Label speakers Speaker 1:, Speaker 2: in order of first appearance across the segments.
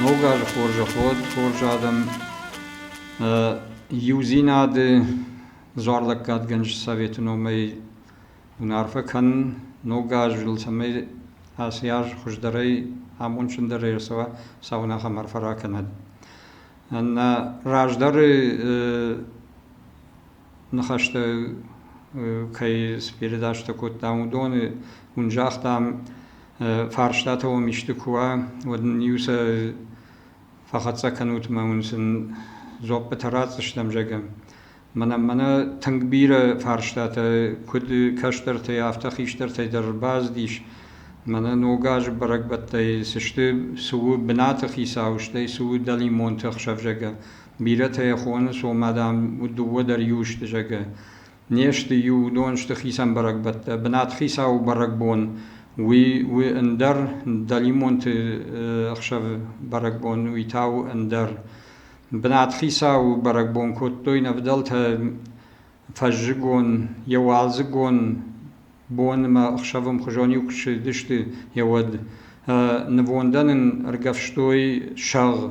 Speaker 1: Ног азы хорзӕход, хорз адӕм, иудзинады зуарлӕггадгӕнджы советы номӕй уын арфӕ кӕнын. Ног азыл, цӕмӕй ацы аз хуыздӕрӕй, амондджындӕрӕй ӕрцӕуа, цауын ахӕм арфӕ ракӕнӕд. Нӕ раздӕры ныхӕстӕ кӕй спередачтӕ кодтам, уыдоны, уын загътам, фарстатӕ уӕм исты куы уа, уӕд ын-иу сӕ фӕхӕццӕ кӕнут мӕ уын сын дзоппытӕ ратдзыстӕм, зӕгъӕм. Мӕнӕ мӕнӕ тынг бирӕ фарстатӕ, куыд кӕстӕртӕй, афтӕ хистӕртӕй дӕр бацыдис. Мӕнӕ ног азы бӕрӕгбӕттӕй цы сты, цы у бынаты хицау, стӕй цы у дӕлимонты ӕхсӕв, зӕгъгӕ. Бирӕтӕ йӕ хоны, сомӕ, дам, дыууӕ дӕр иу сты, зӕгъгӕ. Не сты иу, уыдон сты хицӕн бӕрӕгбӕттӕ. Бынатхицауы бӕрӕгбон уый у ӕндӕр дӕлимонты ӕхсӕвы бӕрӕгбон, уый та у ӕндӕр. Бынатхицауы бӕрӕгбон кодтой нӕ фыдӕлтӕ фӕззыгон, йӕ уалдзыгон бон ӕмӕ ӕхсӕвы ӕмхуызон иу куы ссыдысты, йӕ уӕд. Нывондӕн ын ӕргӕвстой сӕгъ.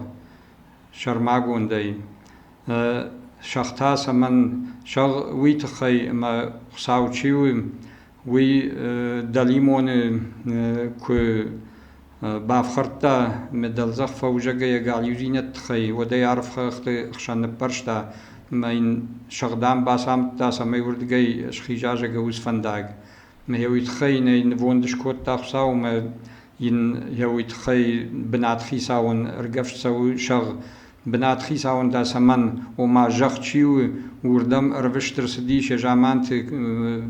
Speaker 1: сӕрмагондӕй сӕгътӕ цӕмӕн зӕгъ, уый тыххӕй ӕмӕ Хуыцау чи у, уый дӕлимоны куы бафхӕрдта дӕлдзӕх фӕузӕгӕй йӕ галиудзинӕдты тыххӕй, уӕд ӕй арф хӕхты хсӕн ныппӕрста ӕмӕ йын сӕгъдӕн бацамыдта, цӕмӕй уырдыгӕй схиза зӕгӕуыц фӕндаг. Йӕ уый тыххӕй нӕ нывонд скодта Хуыцау ӕмӕ йын йӕ уый тыххӕй бынатхицауӕн ӕргӕвст цӕуы сӕгъ. Бынатхицауӕн та цӕмӕн, ома зӕхх чи у, уырдӕм ӕрвыст ӕрцыдис йӕ заманты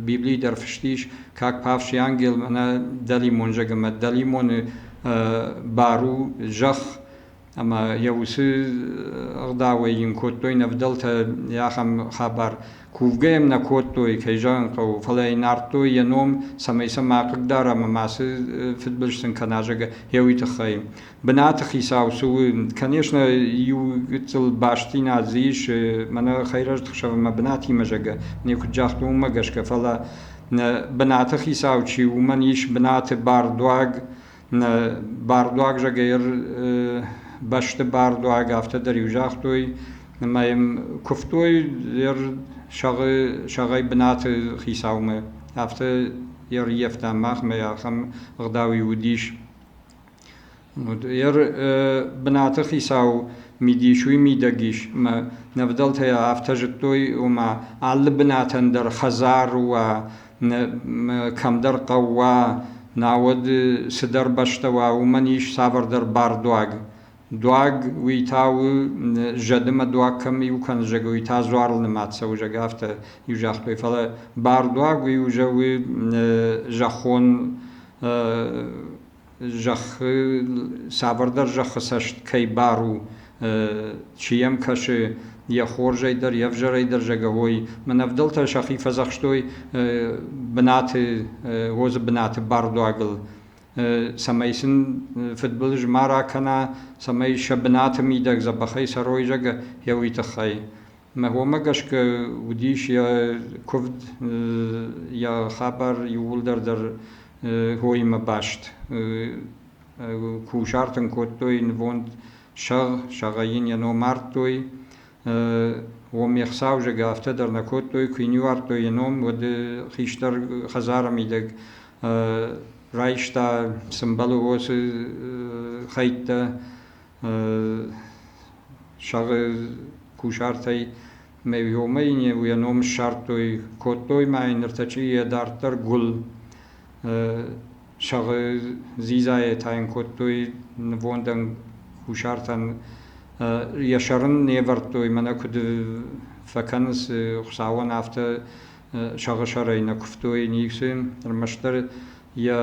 Speaker 1: Библийы дӕр фыст ис, как павший ангел, мӕнӕ дӕлимон зӕгъы ӕмӕ дӕлимоны бар у зӕхх ӕмӕ йӕ уыцы ӕгъдауӕй йын кодтой нӕ вдӕлтӕ ахӕм хабар, кувгӕ йӕм нӕ кодтой, кӕй зӕгъын хъӕуы, фӕлӕ йын ардтой йӕ ном, цӕмӕй сӕ ма хъыгдарӕм ӕмӕ ацы фыдбылыз сын кӕна, зӕгъгӕ, гъеуый тыххӕй. Бынаты хицау цы у? Конечно, иу гыццыл бастдзинад дзы ис, мӕнӕ Хӕйрӕзты хсӕв ӕмӕ бынатимӕ, зӕгъгӕ, нӕ куыд загътон, уымӕ гӕсгӕ, фӕлӕ нӕ бынаты хицау чи у, уымӕн ис бынаты бардуаг, Нӕ бардуаг зӕгӕйр бӕсты бардуаг афтӕ дӕр иу загътой, ӕмӕ йӕм куывтой йӕ сӕгъы сӕгъӕй бынаты хицаумӕ. Афтӕ йӕ ӕрййӕфта махмӕ, ахӕм ӕгъдау-иу уыдис. Йӕ бынаты хицау мидис уый мидӕг ис, ӕмӕ нӕ ӕвдӕлтӕ афтӕ зыдтой, ома алы бынатӕн дӕр хӕдзар уа, кӕмдӕр хъӕу уа, науӕд цыдӕр бӕстӕ уа, уымӕн ис цавӕрдӕр бардуаг. Дуаг, уый та у, зӕды ӕмӕ дуаг кӕм иу кӕны, зӕг, уый та дзуарыл нымад цӕуы, зӕг, афтӕ иу загътой. Фӕлӕ бардуаг, уый уже у зӕххон зӕххы цавӕрдӕр зӕххы цӕст кӕй бар у, чи йӕм кӕсы, йӕ хорзӕй дӕр, йе взӕрӕй дӕр зӕгӕвой. Мӕн ӕвдӕлтӕ сӕхи фӕдзӕхстой бынаты, Озы бынаты бардуагыл, цӕмӕй сын фыдбылыз ма ракӕна, цӕмӕй сӕ бынаты мидӕг дзӕбӕхӕй цӕрой, зӕгӕ, йӕ уый тыххӕй. Мӕ уомӕ гӕсгӕ уыдис йӕ куывд, йӕ хабар иууылдӕр дӕр уоимӕ баст. Кусарт ын кодтой нывонд сӕгъ, сӕгъӕй йын йӕ ном ардтой. Уым йе хцаузӕг афтӕ дӕр нӕ кодтой, куы йын ӕвӕрдтой йӕ ном, уӕд хистӕр хӕдзары мидӕг райста сымбалы уосы хӕйттӕ, сӕгъы кусартӕй Ме виомӕ йын йӕ ном ссардтой, кодтой ма йын ныртӕккӕ йӕ дарддӕр гуыл сӕгъы дзидзайӕ та йын кодтой нывондӕн кусартӕн. Йӕ сӕрын не ӕвӕрдтой, мӕнӕ куыд фӕкӕнынц Хуыцауӕн, афтӕ сӕгъы сӕрӕй нӕ куывтой ницы. Ӕрмӕстдӕр йӕ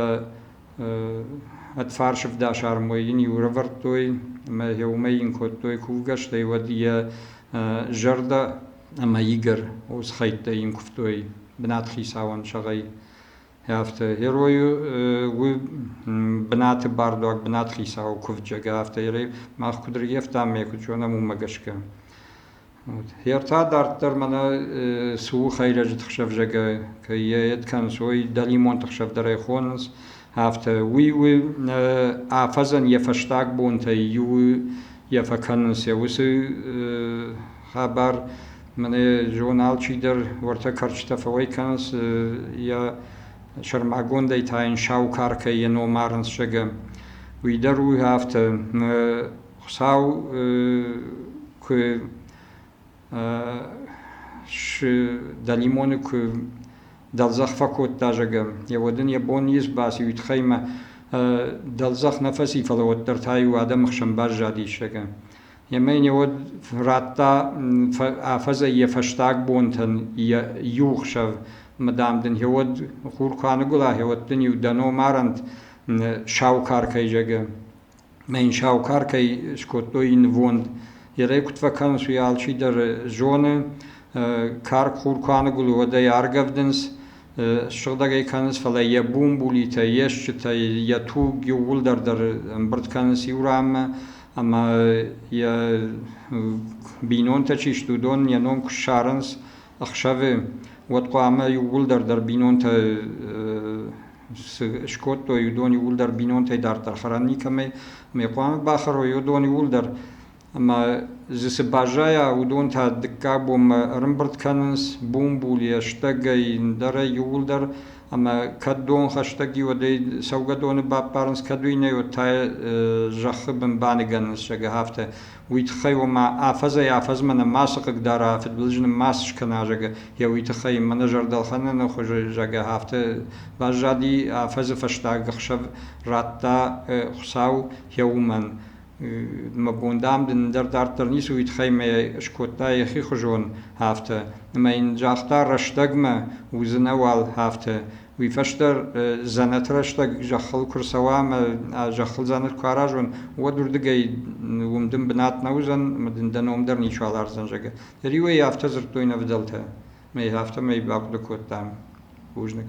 Speaker 1: Ӕд фарсӕвдас армой йын иурӕвӕрдтой ӕмӕ йӕ уымӕй йын кодтой кувгӕ, стӕй уӕд йӕ зӕрдӕ ӕмӕ игӕр уыцы хӕйттӕ йын куывтой бынатхицауӕн сӕгъӕй. Афтӕ герой у бынаты бардуаг, бынатхицауы кувджаг, афтӕ мах куыд рййӕфтам, ме куыд зонӕм, уымӕ гӕсгӕ. Йе ртӕ дарддӕр мӕнӕ цы у хӕйрӕджы тыхсӕвзагӕй кӕй йӕ кӕнынц, уый дӕлимонты хсӕв дӕр ӕй хонынц, афтӕ. Уый у афӕдзӕн йӕ фӕстаг бонтӕй иуы йӕ фӕкӕнынц йӕ уыцы хабар. Мӕнӕ зон алчидӕр уӕртӕ кӕрчытӕ фӕуӕй кӕнынц, йӕ сӕрмагондӕй та йын сау каркӕй йӕ ном арынц, зӕгъӕм. Уый дӕр у афтӕ. Хуыцау куы дӕлимоны куы дӕлдзӕх фӕкодта, зӕгӕ, йӕ уӕд ын йӕ бон ницы баци, уый тыххӕй ӕмӕ дӕлдзӕх нӕ фӕци, фӕлӕ уӕддӕр та-иу адӕмы хсӕн баззадис, зӕгӕ. Ӕмӕ йын йӕ уӕд радта афӕдзӕй йӕ фӕстаг бонтӕн йӕ иу хсӕв, ӕмӕ, дам, дын йӕ уӕд хур куы аныгуыла, йӕ уӕд дын-иу дӕ номарӕнт Саукар кӕй, зӕгӕ. Мӕн саухаркӕй скодтой нывонд. Йе рӕй куыд фӕкӕнынц, уый алчидӕр зоны. Карк-хур куы аныгуылы, уӕд ӕй аргӕвдынц, ссыгъдӕг ӕй кӕнынц, фӕлӕ йӕ бумбулитӕ, йе стджытӕ, йӕ туг иууылдӕр дӕр ӕмбырд кӕнынц иу ранмӕ ӕмӕ йӕ бинонтӕ чи сты, уыдон йӕ ном куы ссарынц ӕхсӕвы, уӕд хъуамӕ иууылдӕр дӕр бинонтӕ скодтой уыдон иууылдӕр бинонтӕй дарддӕр хӕрӕн никӕмӕй ӕмӕ хъуамӕ бахӕрой уыдон иууылдӕр ӕмӕ дзы цы баззайа, уыдон та дыккаг бонмӕ ӕрымбырд кӕнынц бумбул, йӕстӕгӕй, ӕндӕрӕй иууылдӕр ӕмӕ кӕд дон хӕстӕг и, уӕдӕй цӕугӕ доны баппарынц, кӕд уый нӕ уыд та йӕ зӕххы бын баныгӕнынц, зӕгъы афтӕ. уый тыххӕй, ома афӕдзӕй-афӕдзмӕ нӕ мацы хъыг дара, фыдбылызы нын ма скӕна, зӕгъы йӕ уый тыххӕй. Мӕнӕ зӕрдӕлхӕнӕны хуызы, зӕгъгӕ, афтӕ баззади, афӕдзы фӕстаг ӕхсӕв радта Хуыцау йӕ уымӕн. Мӕ бон, дам, дын дӕр дарддӕр ницы уый тыххӕй мӕ скодта йӕхи хуызон афтӕ. Ӕмӕ йын загъта, рӕстӕгмӕ уыдзынӕ уал афтӕ. Уый фӕстӕ дзӕнӕты рӕстӕг зӕххыл куы рцӕуа ӕмӕ зӕххыл дзӕнӕт куы аразон, уӕд уырдыгӕй уым дын бынат нӕ уыдзӕн ӕмӕ дын дӕ ном дӕр ничуал ардзӕн, зӕгъгӕ. Риуӕй афтӕ дзырдтой нӕ вдӕлтӕ. Мӕй афтӕмӕй бахъуыды кодтам бузныг.